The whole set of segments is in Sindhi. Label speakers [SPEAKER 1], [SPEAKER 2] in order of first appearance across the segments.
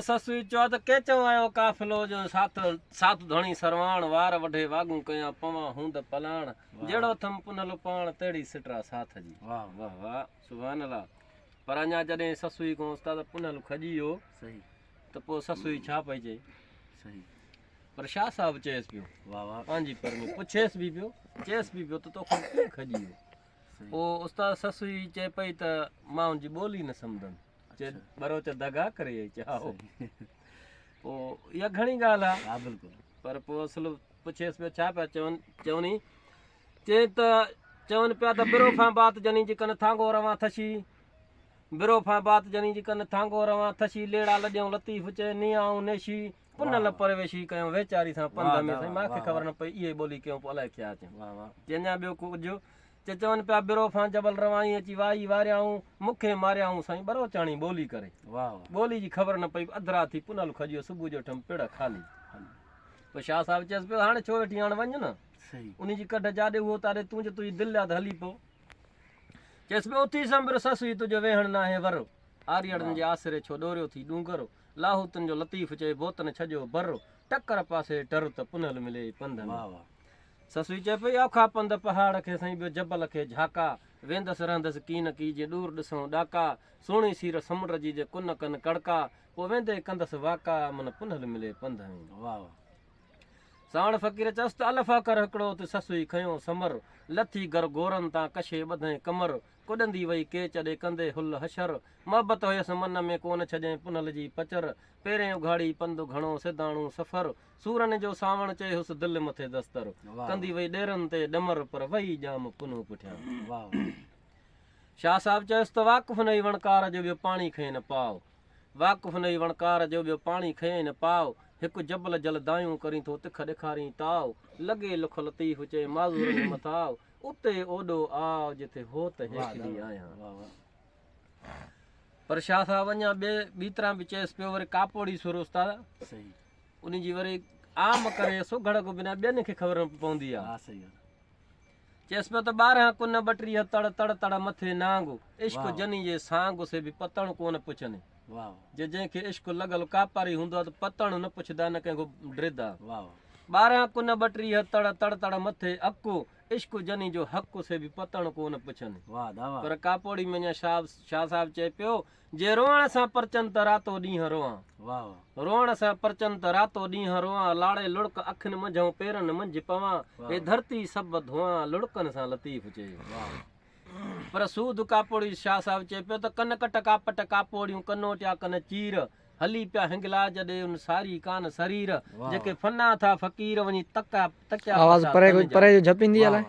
[SPEAKER 1] سسوي چوا ته ڪي چئون اهو قافلو جو ساٿ ساٿ ڌڻي سرواڻ وار وڍي واڳون ڪيان پوان هوند پلاڻ جهڙو ٿم پنهلو پاڻ تهڙي سٽرا ساٿ جي واه واه واه سبحان الله پر اڃا جڏهن سسوي کان استاد پنهل کڄي ويو صحيح ته پوء سسوي ڇا پئي چئي صحيح پر شاهه صاحب چيس پيو واه واه پنهنجي پر ۾ پڇيس به پيو چيس به پيو ته توکان ڪيئن کڄي ويو پوء استاد سسوي چئي پئي ته مان ان جي ٻولي نه سمجهندم چي ٻروچ دغا ڪري اي چي هائو پو اها گهڻي ڳالهه آ ها بلڪل پر پو اصل پڇيس پيو ڇا پيا چون چوني چي ته چون پيا ته برو فان بات جني جي ڪن ٿانگو روان ٿشي برو فان بات جني جي ڪن ٿانگو روان ٿشي ليڙا لڏيون لطيف چي ني آئون نيشي ان لاء پرويشي ڪيو ويچاري سان پنڌ ۾ سائين ماکي خبر نه پئي اهي ٻولي ڪيون پو الائي ڪيا اچن چي اڃا ٻيو ڪجهه چي چون پيا برو فان جبل روائين اچي وائي واريائون مکي ماريائون سائين ٻروچاڻي ٻولي ڪري ٻولي جي خبر نه پئي اڌ رات ٿي پنل کڄيو صبح جو ٺم پڙ خالي پو شاهه صاحب چيس پيو هاڻي ڇو ويٺي هاڻ وڃ نه انهي جي ڪڍ جاڏي هو تاڏي تون جو تنهنجي دل ليا ته هلي پو چيس پيو اٿي سنبر سسوي تنهنجو ويهڻ ناهي ور آريڙن جي آسري ڇو ڏوريو ٿي ڏونگر لاهوتن جو لطيف چئي بوتن ڇڄو بر ٽڪر پاسي ٽر ته پنهل ملي ئي پنڌ ۾. سسوي چئي پئي اوکا پنڌ پهاڙ کي سائين ٻيو جبل کي جهاڪا ويندس رهندس ڪي نه ڪي جي ڏور ڏسئون ڏاڪا سهڻي سير سمنڊ جي جي ڪن ڪن ڪڙڪا پوء ويندي ڪندس واڪا امن پنهل ملي پنڌ ۾. ساڻ فقير چئس ته الف اکر هڪڙو ته سسوي کنيو سمر لٿي گرگورن تان ڪشي ٻڌئين ڪمر ڪڏندي وئي ڪيچ ڏي ڪندي هل حشر. محبت هيس من ۾ ڪونه ڇڄئين پنهل جي پچر. پيرين اگهاڙي پنڌ گهڻو سيداڻو سفر. سورن جو سانوڻ چئي هيس دل مٿي دستر. ڪندي وئي ڏيرن تي ڏمر پر وئي ڄام پنهون پٺيان. شاهه صاحب چيس ته واقف نه هئي وڻڪار جو ٻيو پاڻي کئين نه پاء. واقف نه هئي وڻڪار جو ٻيو پاڻي کئين نه پاء. هڪ جبل جل دانهيون ڪرين ٿو تک ڏيکارين تاء. لڳي لک لطيف چئي معذورن جي مٿاء. اتي اوڏو آء جتي هو ته هيٺلي آهيان. پر شاهه صاحب اڃا ٻي ٻي طرح به چيس پيو وري ڪاپوڙي سر استاد ان جي وري عام ڪري سگهڙ کان بنا ٻين کي خبر نه پوندي آهي چيس پيو ته ٻارهن ڪن ٻٽيهه تڙ تڙ تڙ مٿي نانگ عشق جني جي سانگ سي به پتڻ ڪونه پڇني جي جنهن کي عشق لڳل ڪاپاري هوندو آهي ته پتڻ نه پڇدا نه ڪنهن کان ڊردا ٻارهن ڪن ٻٽيهه تڙ تڙ تڙ مٿي اڪو عشق جني جو حق سي به پتڻ ڪو نه پڇن پر ڪاپوڙي ۾ اڃا شاھ شاھ صاحب چئي پيو جي روئڻ سان پرچن ته راتو ڏينهن روئان روئڻ سان پرچن ته راتو ڏينهن روئان لاڙي لڙڪ اکين منجهون پيرن منجهه پوان هي ڌرتي سڀ ڌوئان لڙڪن سان لطيف چئي پر سوڌ ڪاپوڙي شاهه صاحب چئي پيو ته ڪن ڪٽ ڪاپٽ ڪاپوڙيون ڪنوٽيا ڪن چير هلي پيا هنگلا جڏي ان ساري ڪان سرير جيڪي فنا ٿا فقير وڃي تڪا تڪيا آواز پري ڪجهه پري جو جهپ ايندي الائي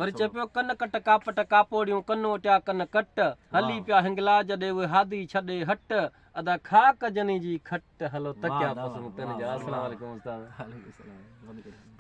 [SPEAKER 1] وري چئي پيو ڪن ڪٽ ڪاپٽ ڪاپوڙيون ڪنوٽيا ڪن ڪٽ هلي پيا هنگلا جڏي اهي هادي ڇڏي هٽ ادا خاڪ جني جي کٽ هلو تڪيا پسند تن جا اسلام عليڪم استاد